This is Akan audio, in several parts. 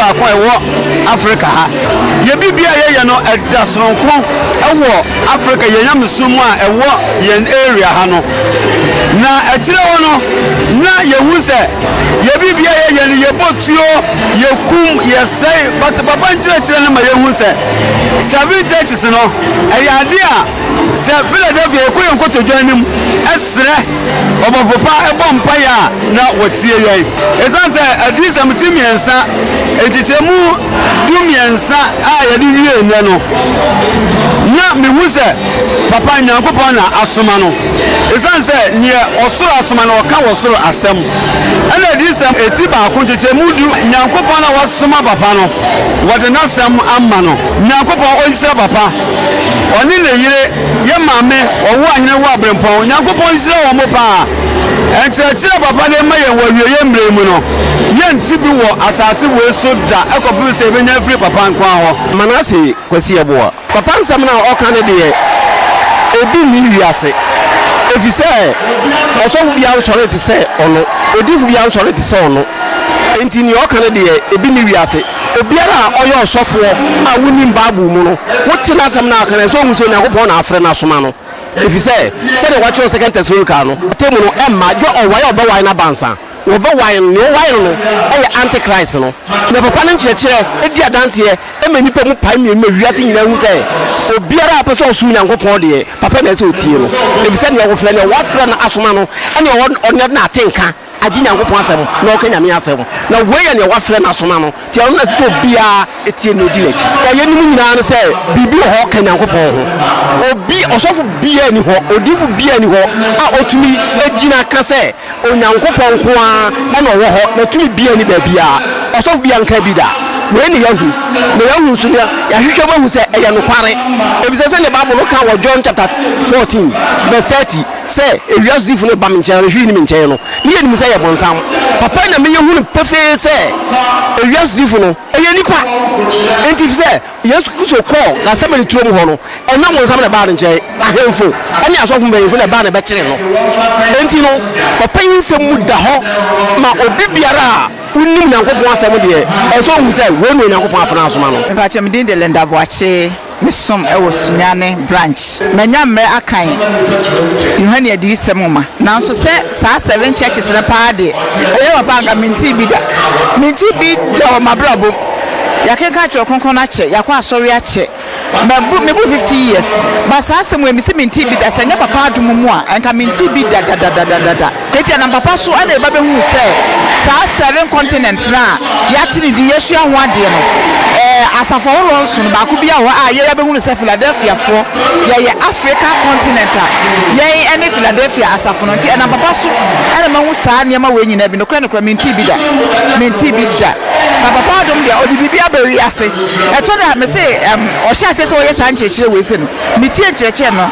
baako a ɛwɔ Afrika ha. Yɛn biribiara a yɛyɛ no ɛda soronko wɔ Afrika yɛn nyamesom mu a ɛwɔ yɛn area ha no. Na akyire hɔ no na yɛhu sɛ yɛn biribiara a yɛyɛ no yɛbɔ tuo, yɛkum, yɛsɛe. But papa nkyerɛkyerɛ no ma yɛhu sɛ seven churches no ɛyɛ adeɛ a sɛ Philadelphia yɛkɔ yɛn nkotodwe anim srɛ. ɔbɔfo pa bɔ mpae a, na wɔtie yɛn. Esiane sɛ Adiyisɛm ti mmiɛnsa, nkyekyɛmu du mmiɛnsa a yɛde wiee nnɛ no, na mihu sɛ Papa Nyankopɔn na asoma no, esiane sɛ nea ɔsoro asoma no, ɔka wɔ soro asɛm, ɛnna Adiyisɛm ti baako, nkyekyɛmu du, Nyankopɔn a wasoma Papa no, wɔde n'asɛm ama no. Nyankopɔn, ɔnhyira Papa, ɔne ne yere, Yɛ maame ɔwo ahene wo abrempɔn Nyankopɔn nhyira wɔn mo paa nkyerɛkyerɛ papa de ma yɛn wɔ awieyɛ mmerɛ yi mu no yɛ nte bi wɔ asase wei so da ɛkɔpem sɛ yɛbɛnya afiri papa nkoa hɔ. Manase Kwasi Yeboah. Papa nsɛm no a ɔka no deɛ ebi nni wiase ɛfiri sɛ ɔsɔfo biara nsɔree te sɛ ɔno, odiyifo biara nsɔree te sɛ ɔno nti deɛ ɔka no deɛ ebi nni wiase. Obiara a ɔyɛ ɔsɔfoɔ a wonim Bible mu no, wote n'asɛm na aka no a, ɛsɛ sɛ ɔhu sɛ Onyankopɔn na afrɛ no asoma no. Ɛfiri sɛ, sɛdeɛ wɔatwerɛ wɔ Second Thessalonical no, atemmu no mma gye ɔwae a wɔbɛwae no abansa. Wɔbɛwae no, nea ɔwae no no yɛ Antichrist no. Na papa no nkyerɛkyerɛ di adanseɛ ma nnipa mu pae mmienu ma wiase nyinaa hu sɛ, obiara a ɔpɛ sɛ ɔsom Onyankopɔn deɛ, papa na ɛsɛ sɛ ɔtie no, ɛfiri sɛ deɛ wɔfrɛ no, deɛ wɔafrɛ no asoma no, ɛne ɔwɔ, ɔno na ate nka. agye Nyankopɔn asɛm na ɔka Nyame asɛm, na woi yɛ nea wafrɛ no asoma no, nti ɛno na ɛsɛ sɛ obiaa tie no na odi n'akyi. Na yeinom nyinaa ne sɛ biribi wɔ hɔ a ɔka Nyankopɔn ho, obi, ɔsɔfo biaa nni hɔ, odiyifo biaa nni hɔ a otumi gyina ka sɛ Onyankopɔn nko ara na ɔwɔ hɔ, na tumi biaa nni baabiaa, ɔsɔfo biaa nkaa bi da. Wei na yɛahu, na yɛahu nso na yɛahwehwɛ mu ahu sɛ ɛyɛ nokware, efisɛ sɛdeɛ Bible no ka wɔ John chapter fourteen verse thirty, Sɛ ewiase difo no reba me nkyɛn anaa hwee nni me nkyɛn no, ne yɛ nim sɛ ɛyɛ bonsam. Papa na meyɛ hunu pefee sɛ ewiase difo no, ɛyɛ nnipa. Enti efisɛ Yesu Kristo kɔɔ Gethsemane turom hɔ no, ɛnyɛ bonsam na ɛbaa ne nkyɛn, ahemfo ne asɔfo mpanyimfo na ɛbaa na ɛbɛkyeree no. Enti no, papa yi nsɛm mu da hɔ ma obi biara a onim Nyankopɔn Asɛm deɛ, ɛsɛ sɛ ohu sɛ wei na Onyankopɔn afenaa soma no. Mpakyɛ me din de Linda Boakye. Me som wɔ Sunyani Branch. Manya mmerɛ akan Yohane Adiyisɛm nwoma, nanso sɛ saa Seven Churches no paa deɛ, ɛyɛ papa a anka mentee bi da. Mentee bi da wɔ m'abrabɔ mu. Yɛakenkan Twerɛ Kronkron no akyɛ, yɛakɔ asɔre akyɛ, mabu, mebu fifty years, but saa asɛm wei mese mentee bi da, sɛ ɛnyɛ papa adom mu a, anka mentee bi da da da da da da. Enti ɛnam papa so na yɛba bɛhuu sɛ saa seven continents no a yɛate no din, yɛasua ho adeɛ no, ɛɛ, asafo ahoroɔ nson no, baako biara wɔ hɔ a yɛba bɛhunu sɛ Philadelphiafoɔ, yɛyɛ Africa continent a yɛn ne Philadelphia asafo no. Enti ɛnam papa so na mahu saa nneɛma wei nyinaa bi. Nokorɛ nokorɛ, mentee bi da. Mentee bi da. Na papa adom deɛ, ɔde biribi aba wiase. Ɛtɔ da a, mese, ɛm, ɔhyɛɛ aseɛ sɛ ɔyɛ saa nkyerɛkyerɛ wei sei no, metie nkyerɛkyerɛ no,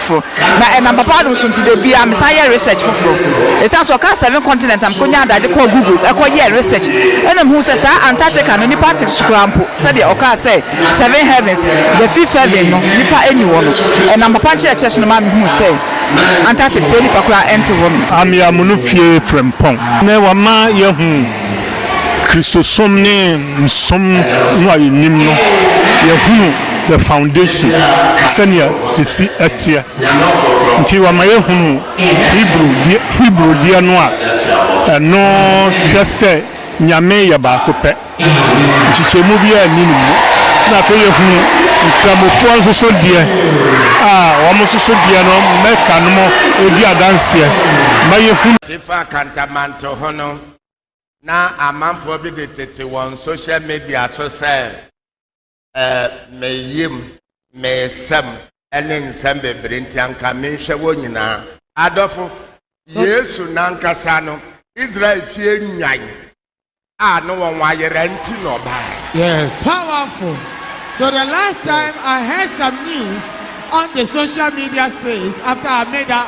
foforo na ɛnam papa adom so nti da biara me san yɛ research foforo ɛsiane sɛ ɔkaa seven continent na me kɔnya adagye kɔɔ google ɛkɔ yɛɛ research ɛna me huu sɛ saa Antarctica no nipa nte so koraa mpo sɛdeɛ ɔkaa sɛ seven heavens the fifth heaven no nipa nni hɔ no ɛnam papa nkyerɛkyerɛ so no maa me huu sɛ Antarctic sɛ nipa koraa ɛnte hɔ no. Amia Munu fie Frempong ne wama yɛahu. Kristosom ne nsom no a yenim no, yɛahunu the foundation, sɛnea esi teɛ. Nti wama yɛahunu Hebrew deɛ no a ɛno hwɛ sɛ Nyame yɛ baako pɛ, nkyekyɛmu biara nni ne mu. Na afei yɛahunu Nkramofoɔ nso so deɛ a wɔn nso so deɛ no Mecca nom di adanseɛ ma yɛhunu. Te fa Kantamanto ho no. na amanfoɔ bi de tete wɔn social media so sɛ ɛɛ meyim meesɛm ɛne nsɛm bebree nti anka menhwɛ wɔn nyinaa adɔfo yesu nankasa no israel fie nwan a ne wɔn ayera nti na ɔbaeɛ yes powerful so the last time yes. i heard some news on the social media space after i made that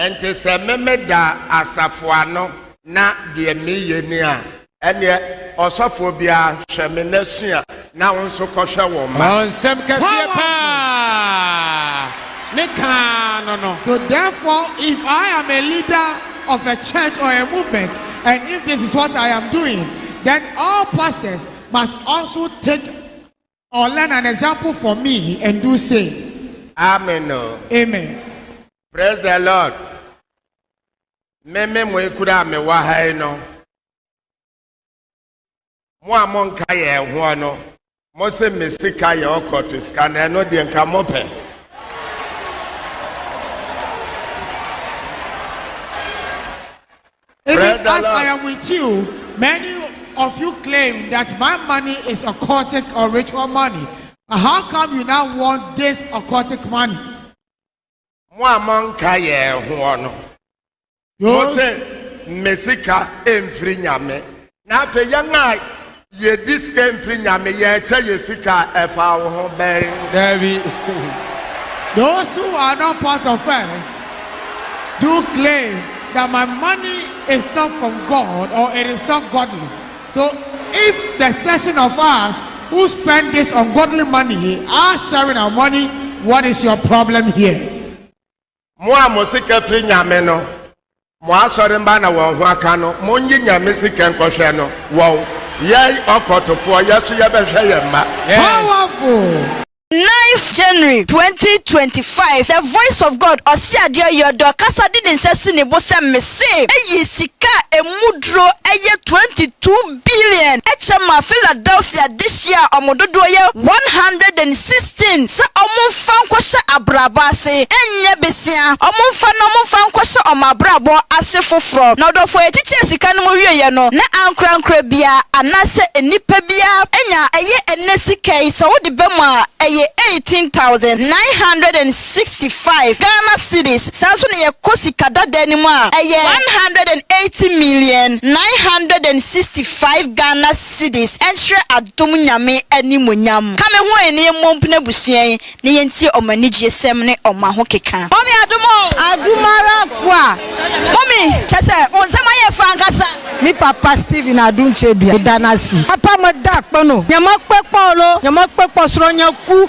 Enti sɛ memeda asafo ano na deɛ meyɛ ni a, ɛnneɛ ɔsɔfoɔ biara, hwɛ me na sua, na wo nso kɔhwɛ wo mma. Ɔɔ, nsɛm kɛseɛ pa ara ne kaa no no. So therefore, if I am a leader of a church or a movement and if this is what I am doing, then all pastors must also take Or learn an example for me and do same. Amen o. Amen. Praise the Lord. Me me mo ekura a mewɔ ha yi no. Mo a monka yɛn ho no, mo se me sika yɛ ɔkɔto sika na ɛno deɛ nka mopɛ. Even as I am with you, many of you claim that my money is occultic or ritual money. But how come you now want this occultic money? mo a monka yɛn ho no mo se mmesika mfiri nyame Na afei yɛn a yedi sika mfiri Nyame, yɛkyɛ yɛn sika a, ɛfa wo ho bɛn? Dabi. Those who are not part of us do claim that my money is not from God or it is not godly. So if the section of us who spend this ungodly money are sharing our money, what is your problem here? Mo a mo sika firi Nyame no, mo asɔre mma na wɔn ho aka no, monye Nyame sika nkɔhwɛ no, wɔn, yɛn, ɔkɔtofoɔ, yɛ so yɛbɛhwɛ yɛn mma. Powerful! Ninth January twenty twenty five The Voice of God Ɔseadeɛ Yɔdɔ kasa de ne nsa si ne bo sɛ Mese, Eyi sika a emu duro yɛ twenty two billion kyɛ maa Philadelphia dehye a wɔn dodoɔ yɛ one hundred and sixteen sɛ wɔmfa nkɔhyɛ abrabɔ ase, ɛnyɛ besea, wɔmfa na wɔmfa nkɔhyɛ wɔn abrabɔ ase foforɔ. Na ɔdɔfoɔ yi kyekyɛɛ sika no mu wieeɛ no, na ankorankora biara anaasɛ nnipa biara anya ɛyɛ ɛnnɛ sika yi sɛ wode ba mu a, ɛyɛ eighteen thousand nine hundred and sixty. five Ghana cedis, saa nso na yɛkɔ sika dada no mu a, ɛyɛ one hundred and eighty million, nine hundred and sixty five Ghana cedis, nkyerɛ adom Nyame animuonyam. Ka me ho ɛ na yɛmmɔ mpena abusua yi na yɛntie wɔn anigyesɛm ne wɔn ahokeka. Mommy adom o! Adom ara kwa! Mommy, kyɛ sɛ wo nsɛm ayɛ fɛ ankasa. Me papa Stephen Adom Kyebia, meda no ase. Papa meda kpɛ no, Nyameakpɛ kpɔ ɔlɔ, Nyameakpɛ kpɔ srɔ nya ku.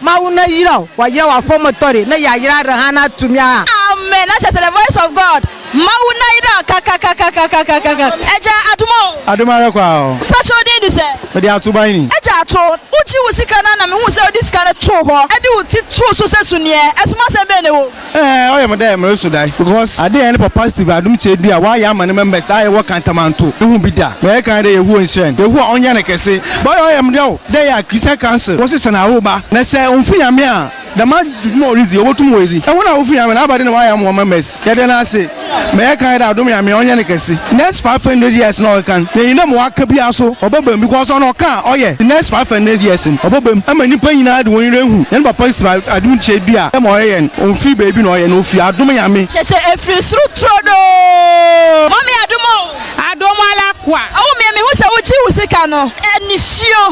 Ma wo na yira wo, wɔayera wo afɔm tɔre na yɛayera reha na tumi a. Amen na kyerɛ sɛ the voice of God ma wo na yira kakakakakakakakaka Agya adom o. Adom ara kwa o. Mpakyɛ wo din de sɛ? Mede Ato ban ni. Agya Ato, wo gye wo sika no a na me hu sɛ wo de sika no too hɔ de wo ti too so sɛ suneɛ, ɛsomasɛm bɛn na ɛwɔ mu? Ɛɛ ɔyɛ me dɛ mereso dae because ade a yɛne Papa Steve Adom Kyerɛdu a ɔayɛ ama ne members a yɛwɔ Kantamanto no hu bi da. Meyɛ kan dɛ Yehowa nhyira no, Yehowa ɔnyɛ no kɛse. But ɔyɛ me yaw dɛ yɛ a Christian Council wɔsesa no aworoba na sɛ onnfi Nyame a dɛm adwuma a oridzi yi obotum oedzi. Hɔn a wofi Nyame na aba dɛn na wɔayɛ ama hɔn members? Yɛda no ase. Mɛyɛ kan dɛ adom Nyame ɔnyɛ ne kɛse next five hundred years na ɔkeka no yɛn nyina ma waka biara so ɔbɛba mu because ɔno ɔka a ɔyɛ the next five hundred years no ɔbɛba mu ɛma nipa nyina de wɔn yerɛ ahu yɛn papa si ba adom kyɛ bi a ɛma ɔyɛ yɛn ɔnfiri baabi na ɔyɛ na ɔfiri adom Nyame. Kyɛ sɛ ɛfiri soro turodoo. Mɔ me adom o. Adom ala kwa. Awo me mehu sɛ wogye wo sika no. Anisuo,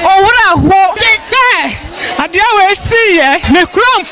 owura ho. Hwɛ! Adeɛ wei siiɛ. Me kura mfata.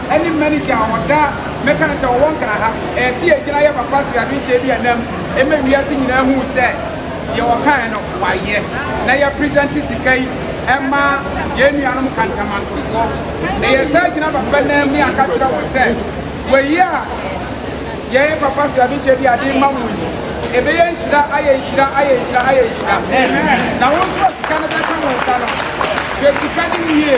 ɛne Mɛnike a ɔda mɛka no sɛ ɔwɔ Nkran ha, ɛyɛ sɛ yɛgyina yɛ papa sradoe Kyɛbi Anam ma wiase nyinaa hu sɛ deɛ ɔkaeɛ no wayɛ na yɛ present sika yi ma yɛn nuanom Kantamantofoɔ na yɛsan gyina papa nan mu aka kyerɛ wɔn sɛ wɔyi a yɛyɛ papa sradoe Kyɛbi ade ma wɔn yi ɛbɛyɛ nhyira ayɛ nhyira ayɛ nhyira ayɛ nhyira na wɔn nso a sika no bɛka wɔn nsa no hwɛ sika no wie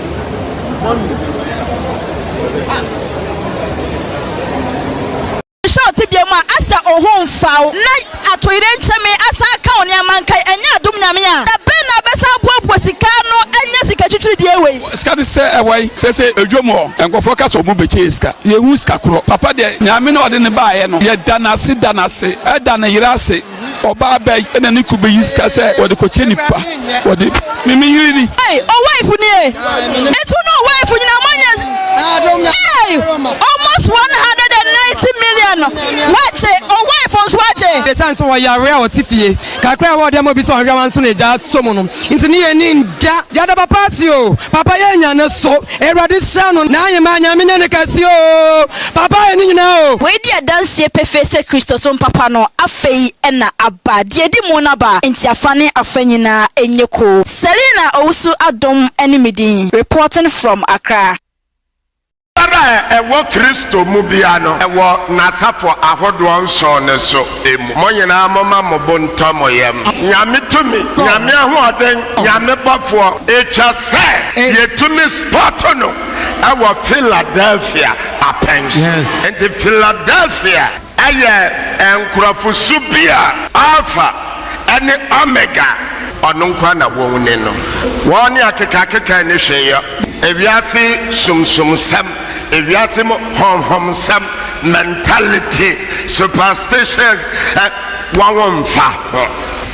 Hwɛ wo tebea mu a asɛ oho mfa wo na atoyerɛnkyɛme asan aka wo nneɛma nkae ɛnyɛ adom Nyame a, da bɛn na wobɛsan abuabua sika ano anya sika twitwiridie wei? Sika no sɛ ɛwai sɛsɛ edwom hɔ nkorɔfoɔ kasa ɔmo bɛkyɛ yɛ sika yɛhu sika korɔ papa deɛ Nyame na ɔde no baayɛ no yɛda no ase da no ase ɛda no yere ase. ɔbaa bɛn na ne kunu bɛyi sika sɛ wɔde kɔkyɛ nipa wɔde me me yere ni. ɛy ɔwaifo ni e etu ne ɔwaifo nyinaa moanya ɛy almost one hundred and ninety million no wakye ɔwaifo nso akye. ɛsiane sɛ ɔyare a ɔte fie kakra a ɛwɔ ɔde ama obi sɛ ɔnhwɛ wa nso na agya so mu no nti ne yɛ ni nda. Yɛda papa ase o, papa yɛnya ne so Awurade sra no n'aheman Nyame nyɛ no kɛse oo papa yɛ ne nyinaa oo. Wei di adanseɛ pefee sɛ Kristosom papa no afei na aba. Deɛ ɛdi mu no aba, enti afa ne afa nyinaa nyɛ koo. Selina Owusu-Adom ne me din. Reporting from Accra. Biara a ɛwɔ Kristo mu biara no wɔ n'asafo ahodoɔ nson no so. mu. Mo nyinaa momma mo bo ntɔ mo yam. Nyame tumi, Nyame ahoɔden, Nyame bɔfoɔ. Etwa sɛ yɛtumi spɔto no wɔ Philadelphia apɛn so. Enti Philadelphia yɛ nkorɔfo su bi a Alpha ne Omega ɔno nko ara na wɔn ni no. Wɔn ne akekakeka nni hwee yɔ. Ewiase sumsumsɛm. ewiase mu honhomsɛm, mentality, superstitions, ɛ, wɔn wo mfa ho.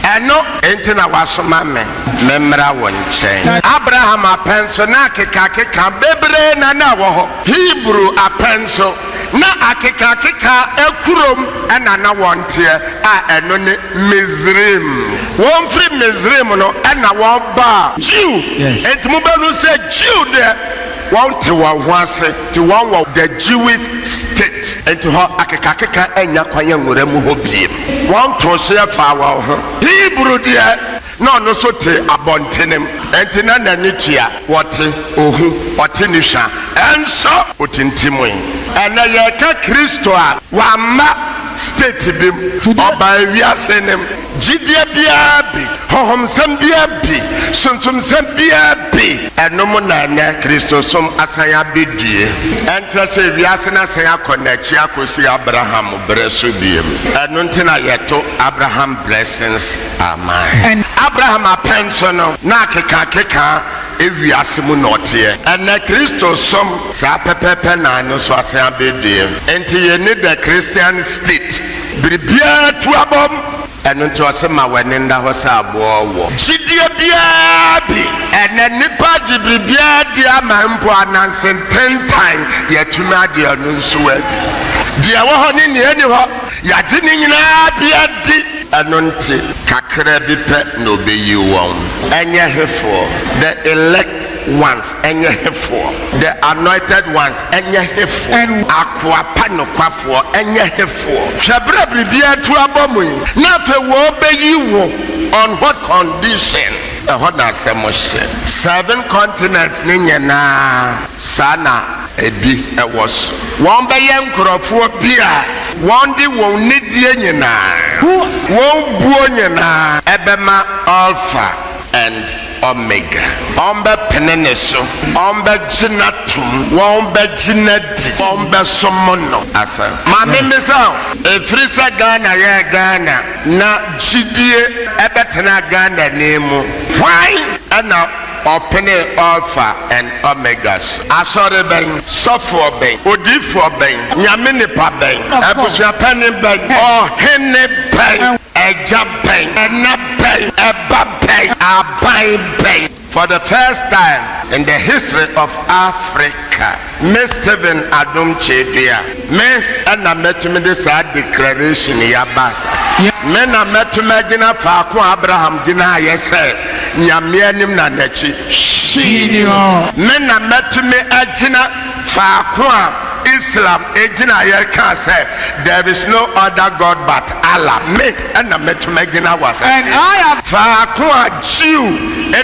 Ɛno. Enti na wasoma me memmra wo nkyɛn. Abraham apɛn so na akekakeka bebree na na ɛwɔ hɔ. Hebrew apɛn so na akekakeka akurom na na wɔteɛ, a ɛno ne Misraim. Wɔfiri Misraim no na wɔbaa. Jew, enti mobɛhu sɛ Jew deɛ. Wɔn te wɔn ho ase te wɔn wɔ the Jewish state. Nti hɔ akekakeka ɛnnya kwan ɛnwura mu hɔ biem. Wɔn too hyeɛ faa wɔn ho. Hebrew deɛ na ɔno nso te abɔntenem. Nti na n'ani tua. Ɔte, ɔhu, ɔte ne hwa. Nso ɔtintimui. Ɛnɛ yɛreka Kristo a wamma state bim. Ɔbaa ewiase nem. Gyidie biara bi, honhomsɛm biara bi, sunsumsɛm biara bi. Ɛno mu na ɛnnɛ Kristosom asan abɛdue. Ɛnkyerɛ sɛ wiase no asan akɔ n'akyi akɔsi Abraham berɛ so bio. Ɛno nti na yɛto Abraham Blessings Amen. Abraham apɛn so no, na akekakeka wiase mu na ɔteɛ. Ɛnnɛ Kristosom, saa pɛpɛɛpɛ na ɛno nso asan abɛdue. Enti yɛnni the Christian state. Biribiara tu abam. Ɛno nti ɔse ma w'ani nna hɔ sɛ aboɔ wɔ. Gyidie biara bi. Ɛnɛ nnipa agye biribiara adi ama mpo ananse ntentan, yɛatumi agye ɛno nso adi. Deɛ ɛwɔ hɔ ne nea ɛnni hɔ, yɛagye ne nyinaa bi adi. Ɛno nti kakra bi pɛ na ɔbɛyi wɔn. Ɛnyɛ hefoɔ? The elect. ones nye hefoɔ? The anointed ones nye hefoɔ? Akoa pa nokwafoɔ nye hefoɔ? Hwɛ berɛ a biribiara atu abɔ mo yi, na afei wɔrebɛyi wo on what condition? Ɛhɔ na asɛm hyɛ. Seven continents no nyinaa saa na ɛbi wɔ so. Wɔbɛyɛ nkorɔfoɔ bi a wɔde wɔn nidie nyinaa, wɔn buo nyinaa bɛma Alpha and. Omega. Wɔbɛpene ne so. Wɔbɛgye no atom. Wɔbɛgye no adi. Wɔbɛsom no. Asa. Ma me mmisa wo. Ɛfiri sɛ Ghana yɛ Ghana na gyidie bɛtena Ghanani mu, hwan na ɔpene Alfa and Omega so? Asɔre bɛn? Sɔfoɔ bɛn? Odiyifoɔ bɛn? Nyame nipa bɛn? Abusua panin bɛn? Ɔhene bɛn? Agya. bɛn? Ɛna bɛn? Ɛba bɛn? Aban bɛn? For the first time in the history of Africa, me Stephen Adom Kyedua, me na mɛtumi de saa declaration yi aba asase. Me na mɛtumi agyina faako a Abraham gyinaeɛ sɛ, Nyame anim na n'akyi hwee nni hɔ. Me na mɛtumi agyina faako a Islam gyinaeɛ kaa sɛ, There is no other God but Allah. Me. na mɛtumi agyina wɔ asaseɛ faako a Jew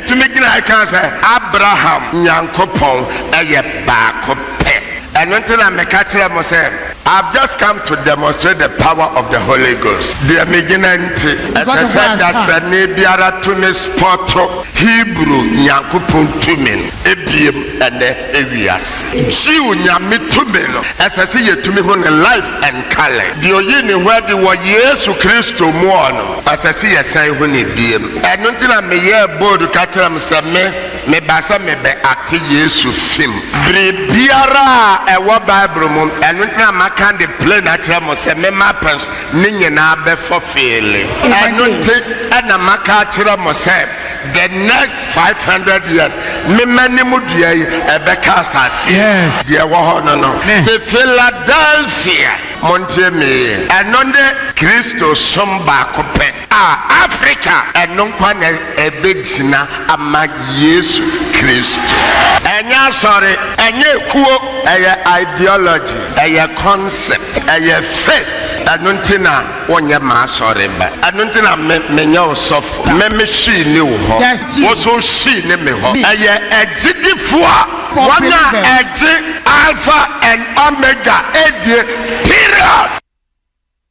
tumi gyinaeɛ kaa sɛ, Abraham Nyankopɔn yɛ baako pɛ. Ɛno nti na meka kyerɛɛ mo sɛ, I've just come to demonstrate the power of the Holy Ghost. Deɛ megyina nti, ɛsɛ sɛ dasani biara tumi spɔto Hebrew Nyankopɔn tumi no ebiem ɛnnɛ ewiase. Jew Nyame tumi no, ɛsɛ sɛ yɛtumi hu no live. nkalɛ. Deɛ ɔyi ne ho adi wɔ Yesu Kristo mu ɔ no, ɛsɛ se yɛsan hu no biem. Ɛno nti na me yɛɛ bold ka kyerɛ mo sɛ me, me ba sɛ me bɛ ate Yesu fim. Biribiara a ɛwɔ Bible mu, ɛno nti na ma ka de plain akyerɛ mo sɛ me ma pɛ so ne nyinaa bɛ fɔfeele. Ɛno nti na ma ka akyerɛ mo sɛ The next five hundred years me m'anim dua yi ɛbɛka asase yi yes. deɛ ɛwɔ hɔ no no me. te Philadelphia montie me yie ɛno ne Kristo som baako pɛ a Africa ɛno nkwa na ɛbɛgyina ama Yesu Kristo ɛnyɛ asɔre ɛnyɛ ekuo ɛyɛ ideology ɛyɛ concept ɛyɛ faith ɛno nti na. wonyɛ m'asɔre ba. Ɛno nti na me, menyɛ wo sɔfo. Me, me hwi nni wo hɔ. Wo nso wo hwi nni me hɔ. Ɛyɛ agyidifo a wɔn a ɛgye Alpha and Omega die. Period!